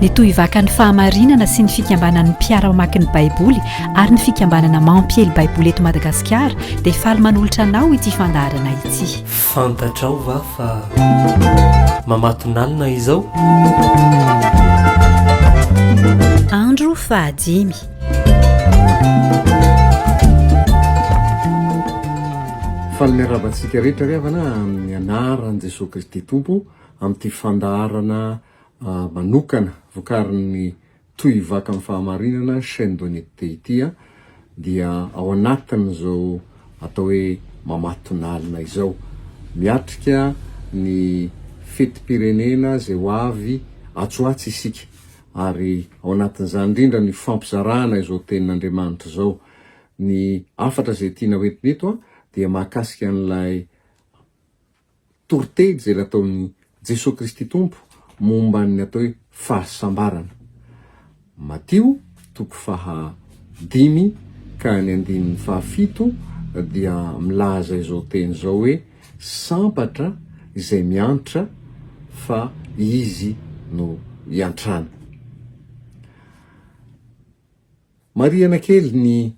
ny tohivakan'ny fahamarinana sy ny fikambanan'ny mpiara-mamaky ny baiboly ary ny fikambanana mampiely baiboly eto madagasikara dia faly manolotra anao ity fandaharana ity fantatrao va fa mamatonalina izao andro fahadimy faly miarabantsika rehetra ry havana amin'ny anaran'i jesosy kristy tompo amin'ity fandaharana manokana vokarin'ny Toi Vaky Amin'ny Fahamarinana, Chaine d'Honnêteté, ity dia ao anatin'izao atao hoe Mamatonalina izao. Miatrika ny fetim-pirenena izay ho avy atsy ho atsy isika ary ao anatin'izany indrindra ny fampizarana izao tenin'Andriamanitra izao. Ny hafatra izay tiana hoentina eto dia mahakasika an'ilay Toriteny izay nataon'i Jesoa Kristy Tompo momba ny atao hoe fahasambarana, Matio toko faha dimy ka ny andininy faha fito dia milaza izao teny izao hoe sambatra izay miantra fa Izy no iantrana. Marihana kely ny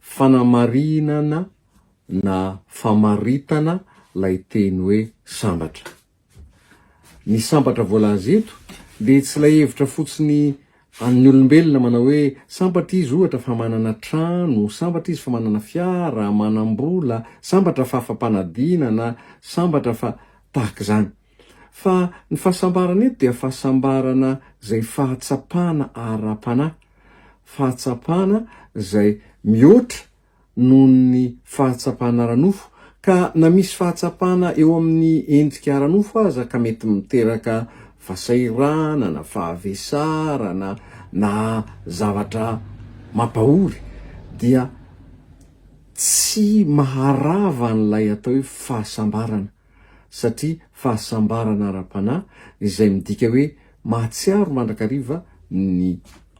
fanamarinana na famaritana ilay teny hoe sambatra. Ny sambatra voalaza eto dia tsy ilay hevitra fotsiny an'ny olombelona manao hoe sambatra izy ohatra fa manana trano, sambatra izy fa manana fiara, manam-bola, sambatra fa fampanadina na sambatra fa tahaka izany. Fa ny fahasambarana eto dia fahasambarana izay fahatsapana ara-panahy, fahatsapana izay mihoatra noho ny fahatsapana ara-nofo, ka na misy fahatsapana eo amin'ny endrika ara-nofo aza ka mety miteraka fahasairana na fahavesarana na zavatra mampahory dia tsy maharava an'ilay atao hoe fahasambarana. satria fahasambarana ara-panahy izay midika hoe mahatsiaro mandrakariva ny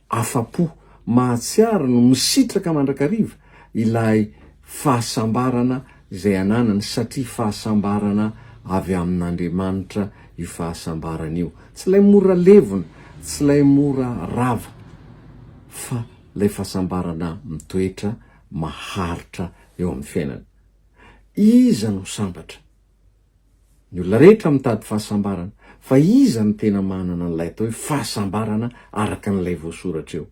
afa-po, mahatsiaro no misitraka mandrakariva ilay fahasambarana izay ananany satria fahasambarana avy amin'Andriamanitra io fahasambarana io. Tsy ilay mora levona, tsy ilay mora rava fa ilay fahasambarana mitoetra maharitra eo amin'ny fiainana. Iza no sambatra? Ny olona rehetra mitady fahasambarana, fa iza no tena manana an'ilay atao hoe fahasambarana araka an'ilay voasoratra eo?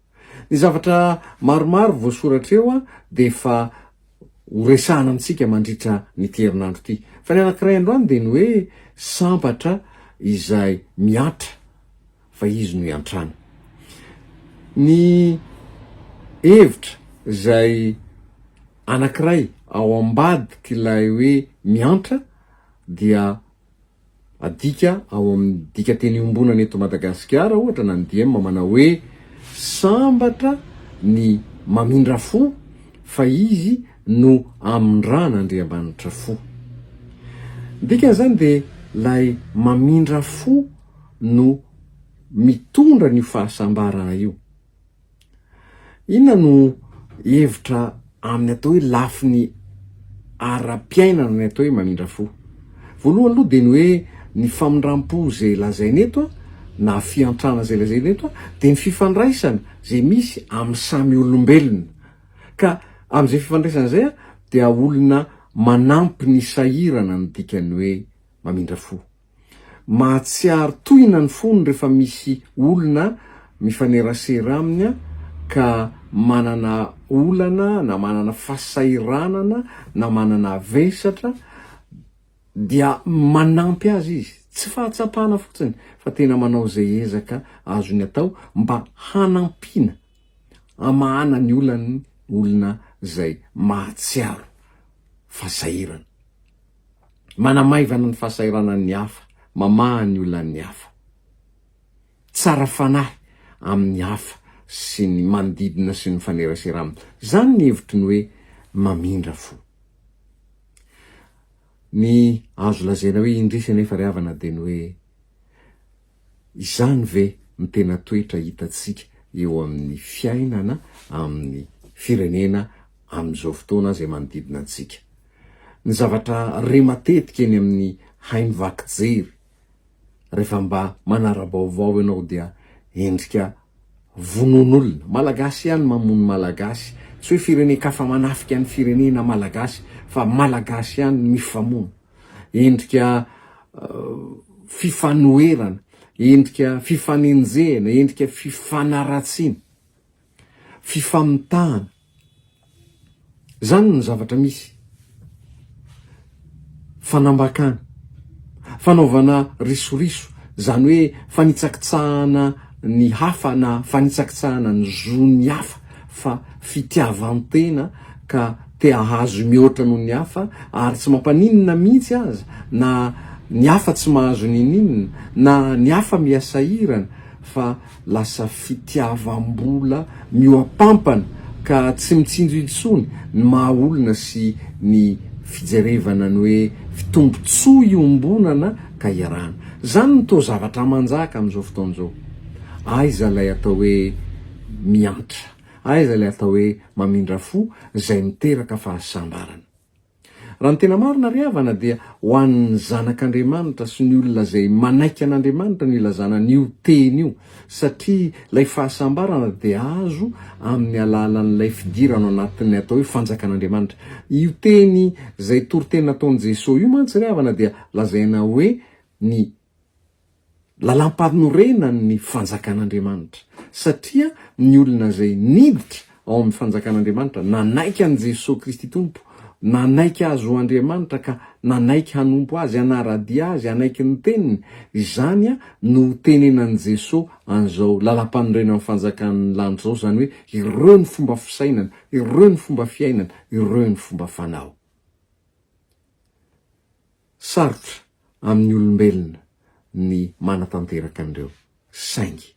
Ny zavatra maromaro voasoratra eo dia efa horesahana amintsika mandritra an'ity herinandro ity. Fa ny anankiray androany dia ny hoe sambatra izay mihatra. fa izy no iantrano. Ny hevitra izay anankiray ao ambadik'ilay hoe miantra dia adika ao amin'ny dikateny iombonana eto Madagasikara ohatra na ny diem manao hoe sambatra ny mamindra fo fa izy no amindran'Andriamanitra fo. Ny dikany izany dia ilay mamindra fo no mitondra an'io fahasambarana io. Inona no hevitra amin'ny atao hoe lafiny ara-piainana ny atao hoe mamindra fo? Voalohany aloha dia ny hoe ny famindram-po izay lazaina eto na fiantrana izay lazaina eto dia ny fifandraisana izay misy amin'ny samy olombelona ka amin'izay fifandraisana izay dia olona manampy ny sahirana ny dikan'ny hoe mamindra fo. Mahatsiaro tohina ny fony rehefa misy olona mifanerasera aminy ka manana olana na manana fahasahiranana na manana vesatra dia manampy azy izy, tsy fahatsapana fotsiny fa tena manao izay ezaka azony atao mba hanampiana hamahana ny olan'ny olona izay mahatsiaro fasahirana. manamaivana ny fahasahiranan'ny hafa, mamaha ny olan'ny hafa, tsara fanahy amin'ny hafa sy ny manodidina sy ny mifanerasera aminy. Izany ny hevitro ny hoe mamindra fo. Ny azo lazaina hoe indrisy anefa ry havana dia ny hoe Izany ve no tena toetra hitantsika eo amin'ny fiainana amin'ny firenena amin'izao fotoana izay manodidina antsika? Ny zavatra re matetika eny amin'ny haino vaky jery rehefa mba manara-baovao ianao dia endrika vonoan'olona. Malagasy ihany mamono Malagasy, tsy hoe firenen-kafa manafika ny firenena Malagasy fa Malagasy ihany mifamono. endrika fifanoherana, endrika fifanenjehana, endrika fifanaratsiana, fifamitahana. Izany no zavatra misy. Fanambakana, fanaovana risoriso, izany hoe fanitsakitsahana ny hafa na fanitsakitsahana ny zon'ny hafa. fa fitiavan-tena ka te hahazo mihoatra noho ny hafa ary tsy mampaninona mihitsy aza na ny hafa tsy mahazo niniana na ny hafa miha-sahirana fa lasa fitiavam-bola mihoa-pampana ka tsy mitsinjo intsony ny maha olona sy ny fijerevana ny hoe fitombotsoa iombonana ka iarahana. Izany no toa zavatra manjaka amin'izao fotoana izao. Aiza ilay atao hoe. miantra. Aiza ilay atao hoe mamindra fo izay miteraka fahasambarana? Raha ny tena marina ry havana dia ho an'ny zanak'Andriamanitra sy ny olona izay manaiky an'Andriamanitra no ilazana an'io teny io satria ilay fahasambarana dia azo amin'ny alalan'ilay fidirana ao anatin'ny atao hoe fanjakan'Andriamanitra. Io teny izay toriteny nataon'i Jesoa io mantsy ry havana dia lazaina hoe ny Lalampanorenan' ny Fanjakan' Andriamanitra, satria ny olona izay niditra ao amin' ny Fanjakan' Andriamanitra, nanaiky an' i Jesoa Kristy Tompo, nanaiky Azy ho Andriamanitra ka nanaiky hanompo Azy, hanara-dia Azy, hanaiky ny Teniny, izany no ho tenenan' i Jesoa an' izao Lalampanorenan' ny Fanjakan' ny lanitra izao, izany hoe ireo ny fomba fisainana, ireo ny fomba fiainana, ireo ny fomba fanao. Sarotra amin'ny olombelona ny manatanteraka an'ireo, saingy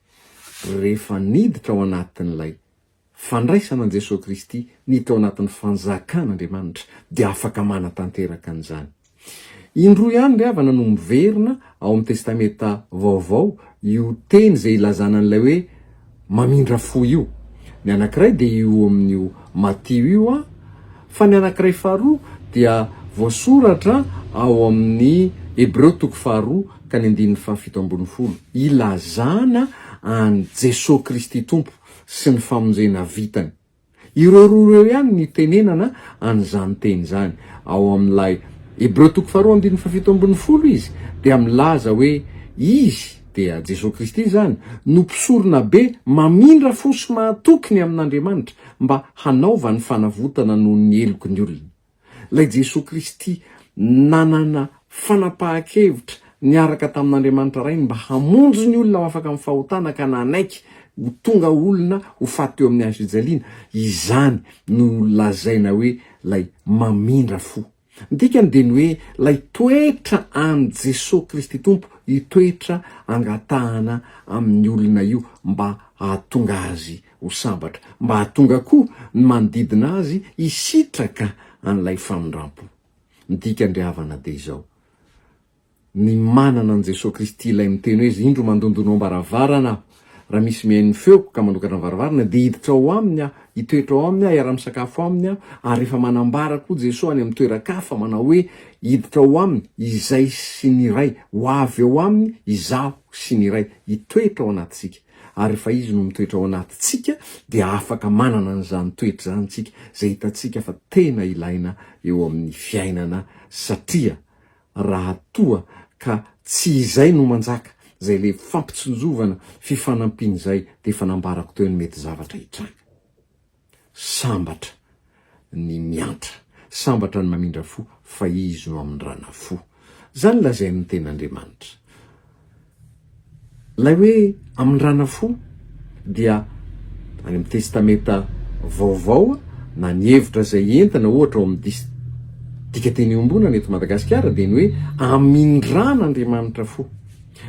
rehefa niditra ao anatin'ilay fandraisana an'i Jesoa Kristy, ny teo anatin'ny fanjakan'Andriamanitra, dia afaka manatanteraka an'izany. Indroa ihany ry havana no miverina ao amin'ny Testamenta Vaovao io teny izay ilazana an'ilay hoe mamindra fo io. Ny anankiray dia io amin'io Matio io an, fa ny anankiray faharoa dia voasoratra ao amin'ny Hebreo toko faharoa ka ny andininy fahafito ambin'ny folo, ilazana an'i Jesoa Kristy Tompo sy ny famonjena vitany. Ireo roa ireo ihany no itenenana an'izany teny izany. Ao amin'ilay Hebreo toko faharoa andininy fahafito ambin'ny folo izy dia milaza hoe Izy, dia Jesoa Kristy izany, no Mpisoronabe mamindra fo sy mahatoky ny amin'Andriamanitra mba hanaovany fanavotana noho ny heloky ny olona. Ilay Jesoa Kristy nanana fanapahan-kevitra niaraka tamin'Andriamanitra Rainy mba hamonjy ny olona ho afaka amin'ny fahotana ka nanaiky ho tonga olona ho faty teo amin'ny hazofijaliana, izany no lazaina hoe ilay mamindra fo. Ny dikany dia ny hoe ilay toetra an'i Jesoa Kristy Tompo, io toetra angatahana amin'ny olona io mba hahatonga azy ho sambatra, mba hahatonga koa ny manodidina azy hisitraka an'ilay famindrampo. Ny dikan-dry havana dia izao, Ny manana an'i Jesoa Kristy Ilay miteny hoe izy, Indro mandondonao am-baravarana Aho, raha misy mihaino ny feoko ka manokatra ny varavarana, dia hiditra ao aminy Aho, hitoetra ao aminy Aho, hiara-misakafo aminy Aho, ary efa manambara koa Jesoa any amin'ny toeran-kafa, manao hoe, Hiditra ao aminy Izay sy ny Ray, ho avy ao aminy Izaho sy ny Ray, hitoetra ao anatintsika. Ary rehefa Izy no mitoetra ao anatintsika dia afaka manana an'izany toetra izany isika, izay hitantsika fa tena ilaina eo amin'ny fiainana satria raha toa ka tsy izay no manjaka, izay le fampitsinjovana, fifanampiana izay dia efa nambarako teo ny mety zavatra hitranga. Sambatra ny miantra, sambatra ny mamindra fo, fa Izy no amindrana fo. Izany lazain' ny Tenin' Andriamanitra. Ilay hoe amindrana fo dia any amin'ny Testamenta Vaovao na ny hevitra izay entina ohatra ao amin'ny dis dikateny iombonana eto Madagasikara dia ny hoe amindran' Andriamanitra fo.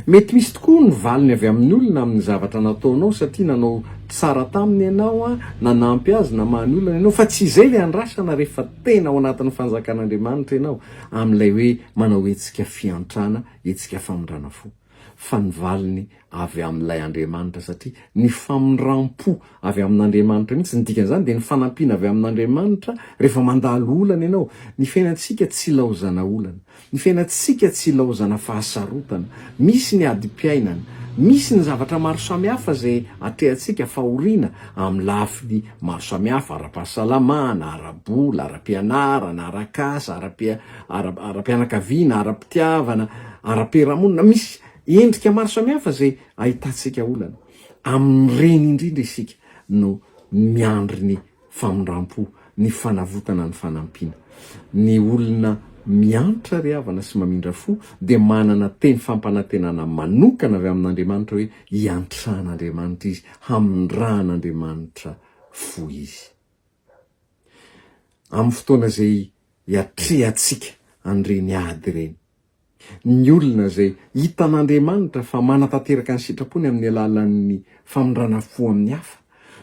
Mety misy tokoa ny valiny avy amin'ny olona amin'ny zavatra nataonao satria nanao tsara taminy ianao, nanampy azy, namaha ny olana ianao, fa tsy izay ilay andrasana rehefa tena ao anatin'ny fanjakan'Andriamanitra ianao amin'ilay hoe manao hetsika fiantrana, hetsika famindrana fo, fa ny valiny avy amin'ilay Andriamanitra satria ny famindram-po avy amin'Andriamanitra mihitsy, ny dikan'izany dia ny fanampiana avy amin'Andriamanitra rehefa mandalo olana ianao, ny fiainantsika tsy ilaozana olana. Ny fiainantsika tsy ilaozana fahasarotana. Misy ny adim-piainana. Misy ny zavatra maro samihafa izay atrehantsika fahoriana amin'ny lafiny maro samihafa, ara-pahasalamana, ara-bola, ara-pianarana, ara-kasa, ara-pianakaviana, ara-pitiavana, ara-piarahamonina. Misy endrika maro samihafa izay ahitantsika olana. Amin'ireny indrindra isika no miandry ny famindrampo, ny fanavotana ny fanampiana. Ny olona miantra ry havana sy mamindra fo dia manana teny fampanantenana manokana avy amin'Andriamanitra hoe iantran'Andriamanitra izy, hamindrahan'Andriamanitra fo izy. Amin'ny fotoana izay iatrehantsika an'ireny ady ireny. ny olona izay hitan'Andriamanitra fa manatanteraka ny sitrapony amin'ny alalan'ny famindrana fo amin'ny hafa,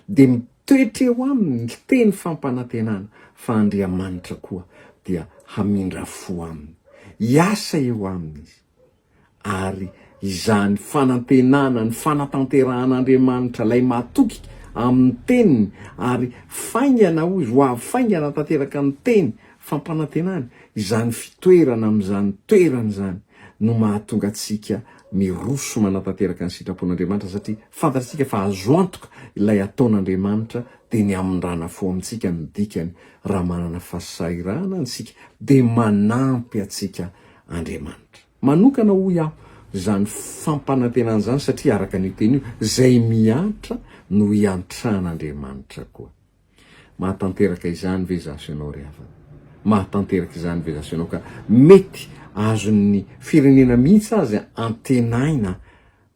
dia mitoetra eo aminy ny teny fampanantenana fa Andriamanitra koa dia hamindra fo aminy. Hiasa eo aminy Izy, ary izany fanantenana ny fanatanterahan'Andriamanitra ilay matoky amin'ny Teniny ary faingana, hoy izy, ho avy faingana tanteraka ny Teny Fampanantenana, izany fitoerana amin'izany toerana izany no mahatonga antsika miroso manatanteraka ny sitrapon'Andriamanitra satria fantatsika fa azo antoka ilay ataon'Andriamanitra dia ny hamindrana fo amintsika no dikany, raha manana fahasahiranana isika dia manampy antsika Andriamanitra manokana hoy aho izany fampanantenana izany satria araka an'io teny io izay mihatra no hiantran'Andriamanitra koa. Mahatanteraka izany ve za sy ianao ry havana? Mahatanteraka izany ve za sy ianao ka mety azon'ny firenena mihitsy aza antenaina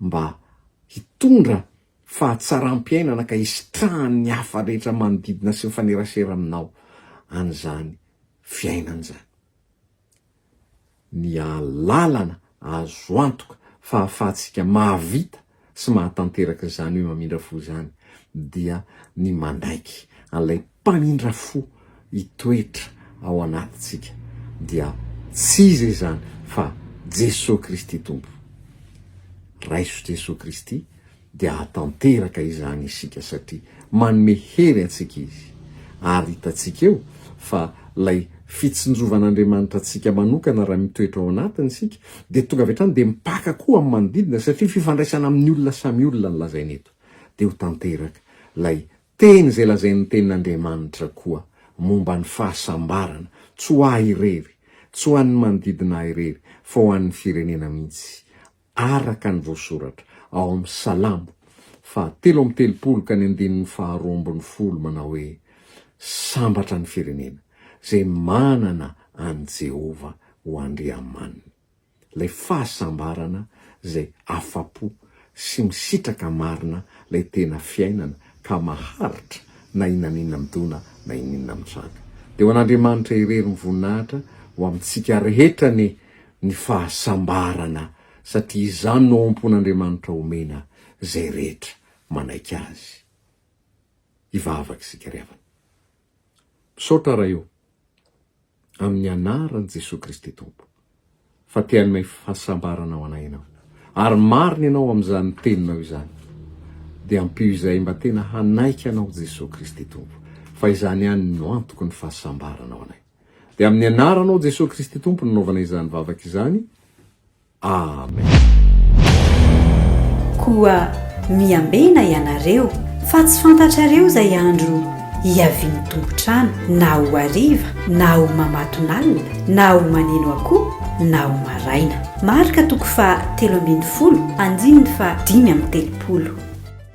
mba hitondra fahatsaram-piainana ka hisitrahan'ny hafa rehetra manodidina sy mifanerasera aminao an'izany fiainana izany? ny alalana azo antoka fa ahafahantsika mahavita sy mahatanteraka izany hoe mamindra fo izany dia ny manaiky an'ilay mpamindra fo hitoetra ao anatintsika dia tsy iza izany fa Jesoa Kristy Tompo. Raiso Jesoa Kristy dia hahatanteraka izany isika satria manome hery antsika Izy. Ary hitantsika eo fa ilay fitsinjovan'Andriamanitra antsika manokana raha mitoetra ao anatiny isika dia tonga avy hatrany dia mipaka koa amin'ny manodidina satria fifandraisana amin'ny olona samy olona no lazaina eto. Dia ho tanteraka ilay teny izay lazain'ny Tenin'Andriamanitra koa momba ny fahasambarana, tsy ho ahy irery, tsy ho an'ny manodidina ahy irery fa ho an'ny firenena mihitsy. araka ny voasoratra ao amin'ny Salamo fahatelo amby telopolo ka ny andininy faharoa ambin'ny folo manao hoe, Sambatra ny firenena izay manana an'i Jehovah ho Andriamaniny, ilay fahasambarana izay afa-po sy misitraka marina ilay tena fiainana ka maharitra na inona na inona midona na inona inona mitranga. Dia ho an'Andriamanitra irery ny voninahitra ho amintsika rehetra anie ny fahasambarana satria izany no ao am-pon'Andriamanitra omena izay rehetra manaiky Azy hivavaka isika ry havana. Misaotra Ray o, amin'ny anaran'i Jesoa Kristy Tompo, fa te hanome fahasambarana ho anay Ianao. Ary marina Ianao amin'izany Teninao izany. Dia ampio izay mba tena hanaiky Anao Jesoa Kristy Tompo, fa izany ihany no antoky ny fahasambarana ho anay. Dia amin'ny anaranao Jesoa Kristy Tompo no nanaovana izany vavaka izany. Amen. Koa miambena ianareo, fa tsy fantatrareo izay andro hiavian'ny tompon-trano, na ho hariva, na ho mamatonalina, na ho maneno akoho, na ho maraina. Marka toko faha telo ambin'ny folo, andininy faha dimy amby telopolo.